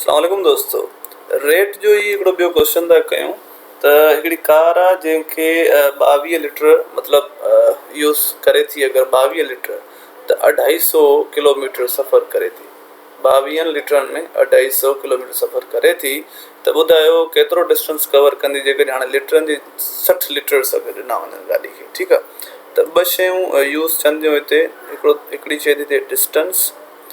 اسلام عليڪم دوستو ريٽ جو هي هڪڙو ٻيو ڪوشچن ٿا ڪيون ته هڪڙي ڪار آ جنهن کي ٻاويهه لٽر مطلب يوز ڪري ٿي اگر ٻاويهه لٽر ته اڍائي سو ڪلوميٽر سفر ڪري ٿي ٻاويهن لٽرن ۾ اڍائي سو ڪلوميٽر سفر ڪري ٿي ته ٻڌايو ڪيترو ڊسٽنس ڪور ڪندي جيڪڏهن هاڻي لٽرن جي سٺ لٽرس اگر ڏنا وڃن گاڏي کي ٺيڪ آ ته ٻه شيون يوز ٿين ٿيون هتي هڪڙو هڪڙي شي ٿي ٿئي ڊسٽنس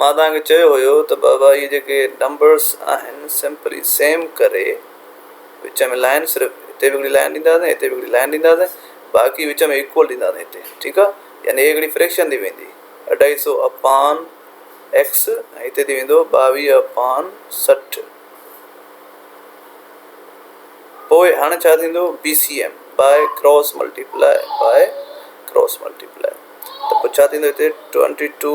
مان توهان کي چيو هيو ته بابا اهي جيڪي نمبرس آهن سمپلي سيم ڪري وچ ۾ لائين صرف هتي به هڪڙي لائين ڏينداسين هتي به هڪڙي لائين ڏينداسين باقي وچ ۾ ايڪول ڏينداسين هتي ٺيڪ آ يعني هي هڪڙي فريڪشن ٿي ويندي اڍائي سو اپان ايڪس ۽ هتي ٿي ويندو ٻاويهه اپان سٺ پوء هاڻي ڇا ٿيندو B C M by cross multiply by cross multiply ته پوء ڇا ٿيندو هتي ٽوئنٽي ٽو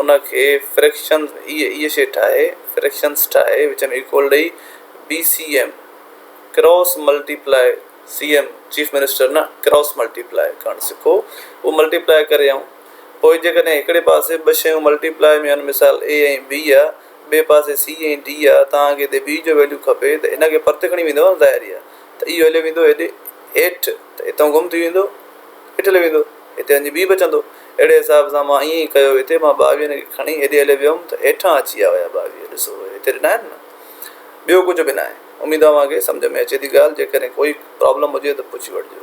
ان کي فريڪشنز اي شي ٺاهي فريڪشنز ٺاهي وچ ۾ ايڪول ڏئي B C M cross multiply C M chief minister نه ڪراس ملٽي پلاء ڪرڻ سکو اهو ملٽي پلاء ڪري آئون پوء جيڪڏهن هڪڙي پاسي ٻه شيون ملٽي پلاء ۾ آهن مثال اي ۽ بي آ ٻئي پاسي سي ۽ ڊي آ توهان کي هتي بي جو ويليو کپي ته ان کي پرتي کڻي ويندو ظاهري آ ته اهو هليو ويندو هيڏي هيٺ ته هتان گم ٿي ويندو هيٺ هليو ويندو. هتي وڃي بيهه به چوندو. اهڙي حساب سان مان ائين ئي ڪيو هتي مان ٻاويهن کي کڻي هيڏي هليو ويم ته هيٺان اچي ويا هيا ٻاويهه ڏسو اهي هتي ڏنا آهن نه ٻيو ڪجهه به ناهي اميد اوهان کي سمجهه ۾ اچي ٿي ڳالهه جيڪڏهن ڪوئي پرابلم هجي ته پڇي وٺجو.